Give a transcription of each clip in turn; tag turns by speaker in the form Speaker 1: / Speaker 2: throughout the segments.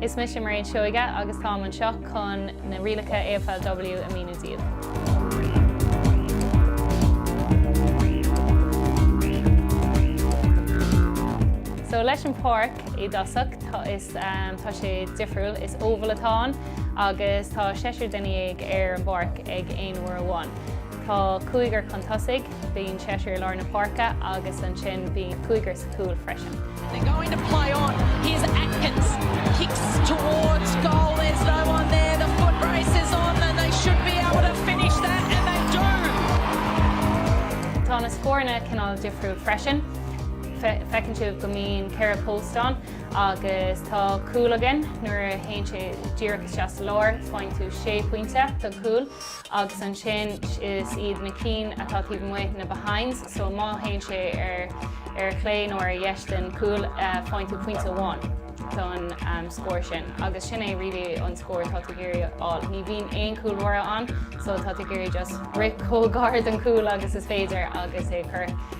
Speaker 1: Is mise Mairéad Seoighe agus táim anseo chun na rialacha AFLW a mhíniú daoibh. So leis an páirc i dtosach tá sé difriúil is oval atá ann. agus tá seisear duine déag ar an bpáirc ag aon uair amháin. Tá cúigear chun tosaigh, bíonn seisear i lár na páirce agus ansin bíonn cúigear sa chúl freisin. They're going to play
Speaker 2: on, here's Atkins, kicks towards goal, there's no one there, the foot race is on and they should be able to finish that and they
Speaker 1: do! Tá na scóranna cineál difriúil freisin, feiceann sibh go mbíonn ceithre post ann. agus tá cúl againn, nuair a théann sé díreach isteach sa lár, faigheann tú sé phointe don chúl, agus ansin is iad na cinn atá taobh amuigh na behinds, so má théann sé ar chlé nó ar dheis den chúl, faigheann tú pointe amháin don scór sin, agus sin é really an scór atá tú ag iarraidh a fháil. Ní bhíonn aon chúlbháire ann, so tá tú ag iarraidh just rith chomh gar don chúl agus is féidir agus é a chur.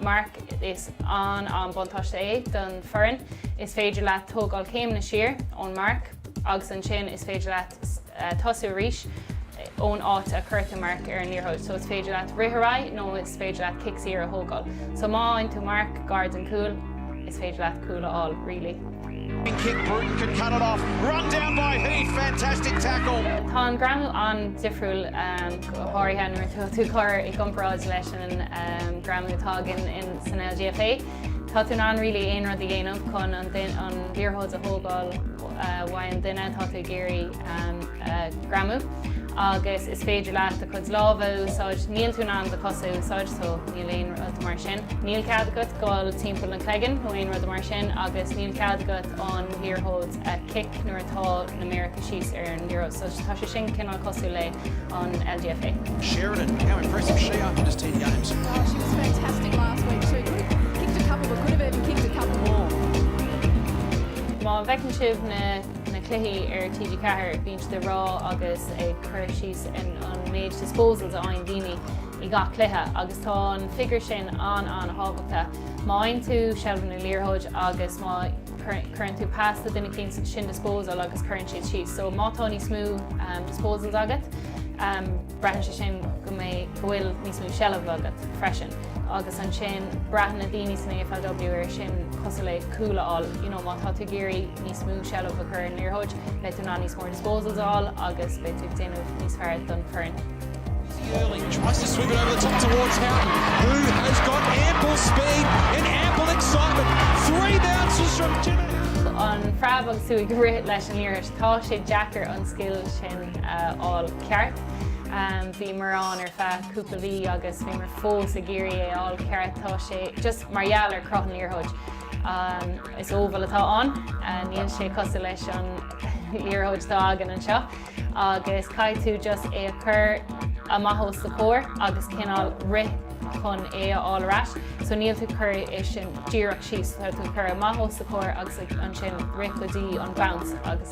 Speaker 1: Mark, Is an an buntáiste é don foireann, is féidir leat tógáil céimeanna siar ón marc agus ansin is féidir leat tosú arís ón áit a chuir tú marc ar an liathróid. So is féidir leat rith ar aghaidh nó is féidir leat cic saor a thógáil. So má fhaigheann tú marc gar den chúl, is féidir leat cúl a fháil really.
Speaker 3: Tá an greamú
Speaker 1: an-difriúil, go háirithe nuair atá tú ag cur i gcomparáid leis an greamú atá againn san LGFA. Tá tú in ann really aon rud a dhéanamh chun an liathróid a thógáil uaidh an duine atá tú ag iarraidh. greamú agus is féidir leat do chuid lámh a úsáid, níl tú in ann do chosa a úsáid so níl aon rud mar sin. Níl cead agat dul timpeall an chloigeann nó aon rud mar sin agus níl cead agat an liathróid a kick nuair atá na méaracha síos ar an liathróid so tá sé sin cineál cosúil le an LGFA. Sheridan,
Speaker 3: how impressive she after just 10 games. Oh, she was fantastic last week
Speaker 2: too. Could have kicked a couple, but could have even kicked a couple more.
Speaker 1: Má fheiceann sibh na. na cluichí ar TG4, bíonn siad ag rá agus ag cur síos ar an méid disposals a fhaigheann daoine i gach cluiche agus tá an figure sin an-an-thábhachtach. Má fhaigheann tú seilbh na liathróid agus má chuireann tú pas do duine éicínt, sin disposal agus cuireann siad síos. So má tá níos mó disposals agat, Braitheann sé sin go mbeidh go bhfuil níos mó seilbhe agat freisin agus ansin breathnaíonn na daoine san AFLW ar sin cosúil le cúl a fháil, you know, má tá tú ag iarraidh níos mó seilbhe a chur ar an liathróid, beidh tú in ann níos mór disposals a fháil agus beidh tú ag déanamh níos fearr don fhoireann. Early tries to
Speaker 3: swing it over the top towards Houghton, who has got ample speed and ample excitement. Three bounces from Jimmy.
Speaker 1: An phreab agus tú ag rith leis an liathróid, tá sé deacair an scil sin a fháil. ceart. Bhíomar ann ar feadh cúpla mhí agus bhíomar fós ag iarraidh é a fháil ceart. Tá sé, just mar gheall ar chruth an liathróid, is oval atá ann, níl sé cosúil leis an liathróid atá againn anseo, agus caithfidh tú just é a chur amach os do chomhair agus cineál rith chun é a fháil ar ais. So níl tú ag cur é díreach síos, tá tú ag cur amach os do chomhair agus ansin rith go dtí an bounce agus.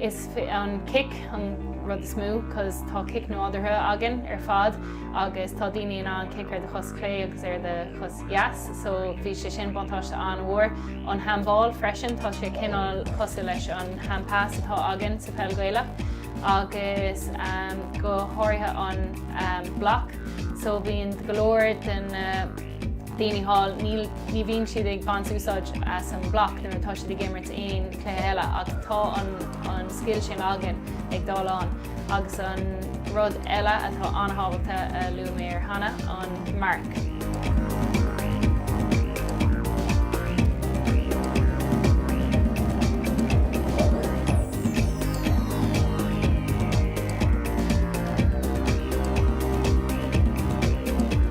Speaker 1: Is an cic an rud is mó cos tá cic nádúrtha againn ar fad agus tá daoine in ann cic ar do chos chlé agus ar do chos dheas so bhí sé sin buntáiste an-mhór. An handball freisin tá sé cineál cosúil leis an handpass atá againn sa pheil Ghaelach agus go háirithe an block so bíonn go leor den na daoine thall, níl, ní bhíonn siad ag baint úsáid as an mbloc nuair atá siad ag imirt aon chluiche eile ach tá an, an scil sin againn ag dul ann agus an rud eile atá an-tábhachtach a luaigh mé ar cheana, an marc.